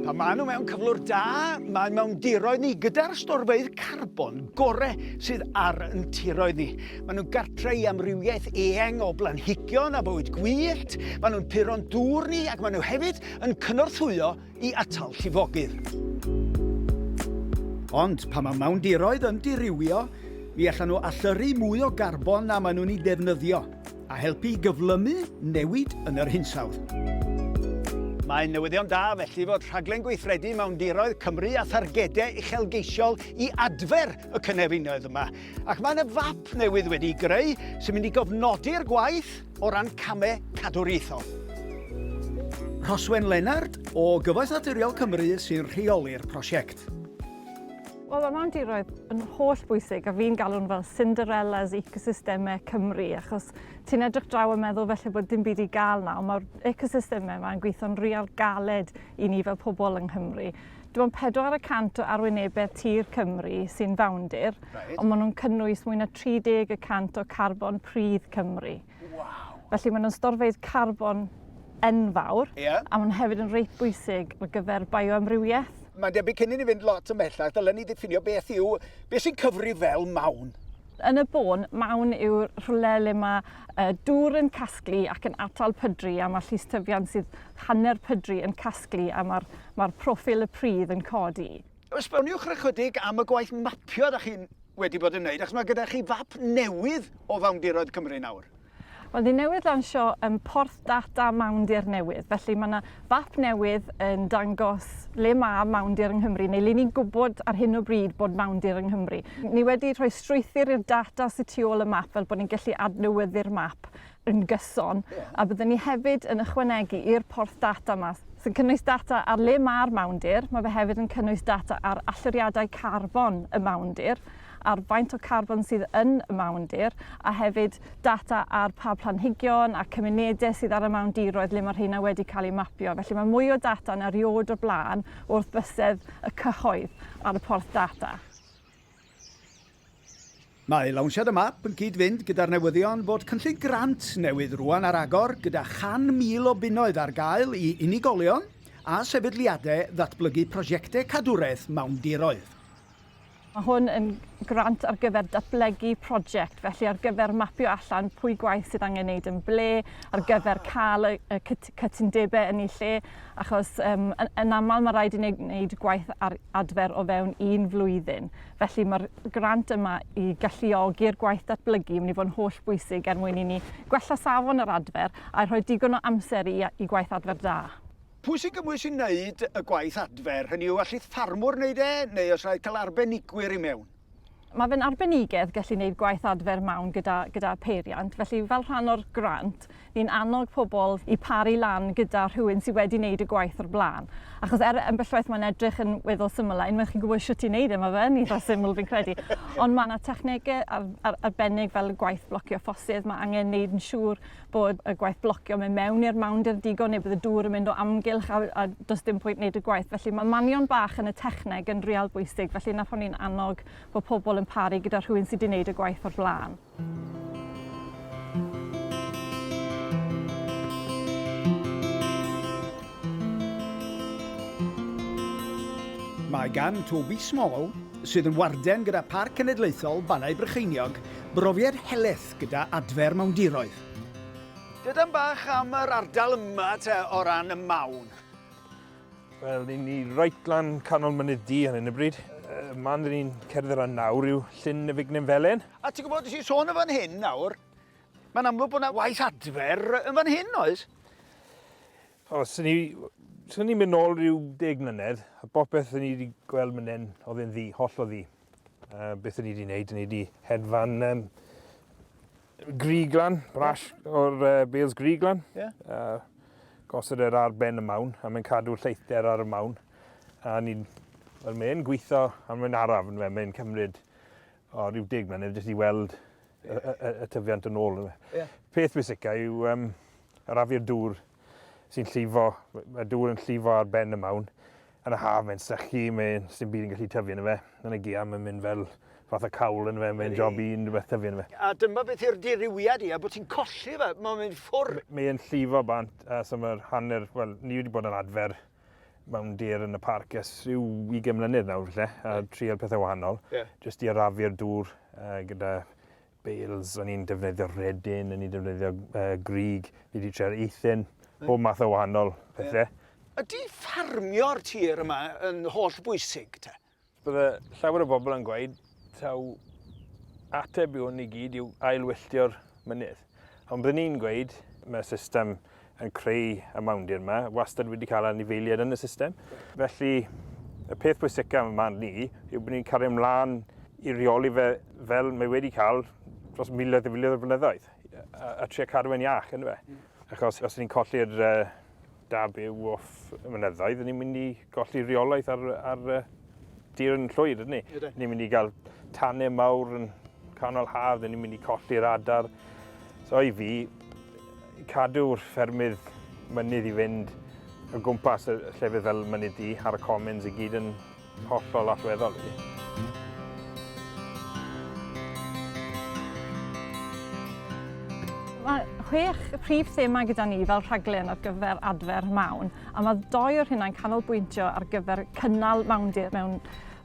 Pan maen nhw mewn cyflwr da, mae'n mewn diroedd ni gyda'r storfeydd carbon gorau sydd ar yn tiroedd ni. Maen nhw'n gartre i amrywiaeth eang o blanhigion a bywyd gwyllt, maen nhw'n puro'n dŵr ni ac maen nhw hefyd yn cynorthwyo i atal llifogydd. Ond pan mae mawndiroedd yn dirywio, mi allan nhw allyrru mwy o garbon na maen nhw'n ei defnyddio, a helpu i gyflymu newid yn yr hinsawdd. Mae'n newyddion da felly fod rhaglen gweithredu mawndiroedd Cymru a thargedau uchelgeisiol i adfer y cynefinoedd yma. Ac mae yna fap newydd wedi greu sy'n mynd i gofnodi'r gwaith O ran camau cadwriaethol. Rhoswen Lennard o Gyfoeth Naturiol Cymru sy'n rheoli'r prosiect. Wel, mae mam diroedd yn holl bwysig a fi'n galw'n fel Cinderella's ecosystemau Cymru achos ti'n edrych draw a meddwl felly bod dim byd i gael nawr. Mae'r ecosystemau yma yn gweithio'n real galed i ni fel pobl yng Nghymru. Dim ond pedwar y cant o arwynebedd tir Cymru sy'n fawndir, right. ond maen nhw'n cynnwys mwy na 30 y cant o carbon pridd Cymru. Wow. Felly maen nhw'n storfeydd carbon enfawr, yeah. a maen nhw hefyd yn reit bwysig ar gyfer bioamrywiaeth. Mae'n debyg cyn i ni fynd lot ymhellach, dylen ni ddiffinio beth yw, beth sy'n cyfri fel mawn. Yn y bôn, mawn yw rhywle le mae uh, dŵr yn casglu ac yn atal pydru a mae llystyfiant sydd hanner pydru yn casglu a mae'r Mae'r proffil y pridd yn codi. Esboniwch ychydig am y gwaith mapio da chi'n wedi bod yn wneud, achos mae gyda chi fap newydd o fawndiroedd Cymru nawr. Wel, ni newydd lansio um, porth data mawndir newydd, felly mae yna fap newydd yn dangos le mae mawndir yng Nghymru, neu le ni'n gwybod ar hyn o bryd bod mawndir yng Nghymru. Ni wedi rhoi strwythyr i'r data sy'n tu ôl y map, fel bod ni'n gallu adnewyddu'r map yn gyson, a byddwn ni hefyd yn ychwanegu i'r porth data 'ma, sy'n cynnwys data ar le mae'r mawndir, mae fe hefyd yn cynnwys data ar allyriadau carbon y mawndir, ar faint o carbon sydd yn y mawndir, a hefyd data ar pa planhigion a cymunedau sydd ar y mawndiroedd le mae rheina wedi cael eu mapio. Felly mae mwy o data na rioed o'r blaen wrth bysedd y cyhoedd ar y porth data. Mae lawnsiad y map yn cyd-fynd gyda'r newyddion fod cynllun grant newydd rŵan ar agor gyda 100,000 o bunnoedd ar gael i unigolion a sefydliadau ddatblygu prosiectau cadwraeth mawndiroedd. Mae hwn yn grant ar gyfer datblygu prosiect, felly ar gyfer mapio allan pwy gwaith sydd angen neud yn ble, ar gyfer cael y cytundebau yn eu lle, achos um, yn, yn aml mae rhaid i ni wneud gwaith ar adfer o fewn un flwyddyn. Felly mae'r grant yma i galluogi'r gwaith datblygu yn mynd i fod yn holl bwysig er mwyn i ni gwella safon yr adfer a rhoi digon o amser i, i gwaith adfer da. Pwy sy'n gymwys i wneud y gwaith adfer? Hynny yw, allith ffarmwr wneud e, neu os rhaid cael arbenigwyr i mewn? Mae fe'n arbenigedd gallu gwneud gwaith adfer mawn gyda, gyda peiriant, felly fel rhan o'r grant, ni'n annog pobl i paru lan gyda rhywun sydd wedi wneud y gwaith o'r blaen. Achos er ambellwaith mae'n edrych yn weddol syml, a unwaith chi'n gwybod sut i wneud e, mae fe yn eitha syml fi'n credu. Ond mae yna technegau ar, ar, arbennig fel gwaith blocio ffosydd, mae angen wneud yn siŵr bod y gwaith blocio mynd mewn i'r mawndir digon neu bod y dŵr yn mynd o amgylch a, a does dim pwynt wneud y gwaith. Felly mae manion bach yn y techneg yn real bwysig, felly na phan ni'n annog bod pobl yn paru gyda rhywun sydd wedi wneud y gwaith o'r blaen. Mae gan Toby Small, sydd yn warden gyda Parc Cenedlaethol Bannau Brycheiniog, brofiad heleth gyda adfer mawndiroedd. Dydan bach am yr ardal yma te o ran y mawn? Wel, ni'n ni reit lan canol mynydd di ar hyn y bryd. Uh, man dyn ni'n cerdded ran nawr yw llyn y Fignen Felen. A ti'n gwybod, ti'n sôn yn fan hyn nawr, mae'n amlwg bod yna waith adfer yn fan hyn, oes? O, sy'n ni, sy'n ni mynd nôl rhyw deg mlynedd, a bopeth sy'n ni wedi gweld mynd hyn, oedd yn ddi, holl o ddi. Uh, beth ni wedi gwneud, ni wedi hedfan um, griglan, brash yeah. o'r uh, Bales griglan. Yeah. Uh, gosod yr ar ben y mawn, a mae'n cadw'r lleithder ar y mawn. A ni'n, well, mae'n gweithio, a mae'n araf, yn fe, mae'n cymryd o rhyw dig mlynedd, jyst i weld y, y, y tyfiant yn ôl. Yeah. Peth bwysica yw um, arafu'r dŵr sy'n llifo, y dŵr yn llifo ar ben y mawn, yn y haf mae'n sychu, mae sy'n byd yn gallu tyfu yn y fe. Yn y gia mae'n mynd fel fath o cawl yn y fe, mae'n job i unrhyw beth tyfu yn y fe. A dyma beth yw'r dirywiad i, a bod ti'n colli fe, mae'n mynd ffwr. Mae'n llifo bant, uh, so mae'r hanner, wel, ni wedi bod yn adfer mewn dir yn y parc ers rhyw 20 mlynedd nawr falle, a trial pethau wahanol, yeah. jyst i arafu'r dŵr uh, gyda bales, o'n i'n defnyddio rhedyn, o'n i'n defnyddio uh, grig, ni wedi trial eithin, bob math o wahanol pethau. Yeah. Ydy ffarmio'r tir yma yn holl bwysig te? Bydde llawer o bobl yn gweud taw ateb i hwn i gyd yw ailwylltio'r mynydd. Ond byddwn ni'n gweud mae system yn creu y mawndir yma, wastad wedi cael anifeiliaid yn y system. Felly, y peth pwysica yn man ni yw bod ni'n cario ymlaen i reoli fe fel mae wedi cael dros miloedd a miloedd o blynyddoedd, a, a trio cadw e'n iach, yn fe. Achos os ni'n colli'r uh, da byw off y mynyddoedd, ni'n mynd i golli reolaeth ar, ar, Dyr yn llwyd, ydyn ni? Ydyn. Ni'n mynd i gael tanau mawr yn canol haf, dyn ni'n mynd i colli'r adar. So i fi, cadw'r ffermydd mynydd i fynd o gwmpas y llefydd fel mynydd di ar y commons i gyd yn hollol allweddol. Mae chwech prif thema gyda ni fel rhaglen ar gyfer adfer mawn. A mae dou o'r rheinau'n canolbwyntio ar gyfer cynnal mawndir mewn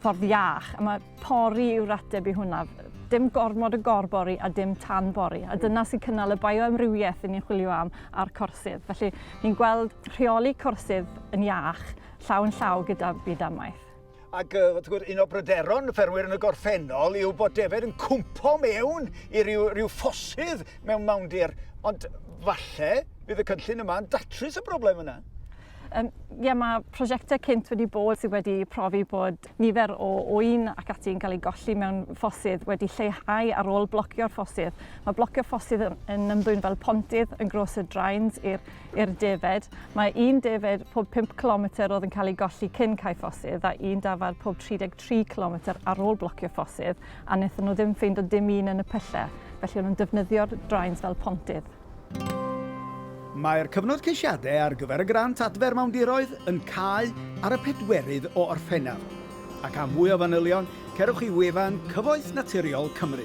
ffordd iach. A mae pori yw'r ateb i hwnna. Dim gormod o gorbori a dim tan bori. A dyna sy'n cynnal y bioamrywiaeth yn ni'n chwilio am a'r corsydd. Felly, ni'n gweld rheoli corsydd yn iach llaw yn llaw gyda byd amaeth. Ac uh, wrth gwrs, un o bryderon y ffermwyr yn y gorffennol yw bod defed yn cwmpo mewn i ryw, ryw ffosydd mewn mawndir. Ond falle bydd y cynllun yma yn datrys y broblem yna. Um, yeah, mae prosiectau cynt wedi bod sydd wedi profi bod nifer o oen ac ati'n cael ei golli mewn ffosydd wedi lleihau ar ôl blocio'r ffosydd. Mae blocio ffosydd yn, yn ymddwyn fel pontydd yn gros y drains i'r i'r defaid. Mae un defaid pob 5 cilometr oedd yn cael ei golli cyn cae ffosydd a un dafarn pob 33 cilometr ar ôl blocio ffosydd a wnaethon nhw ddim ffeindio dim un yn y pyllau, felly o'n nhw'n defnyddio'r drains fel pontydd. Mae'r cyfnod ceisiadau ar gyfer y grant adfer mawndiroedd yn cau ar y pedwerydd o Orffennaf, ac am fwy o fanylion, cerwch i wefan Cyfoeth Naturiol Cymru.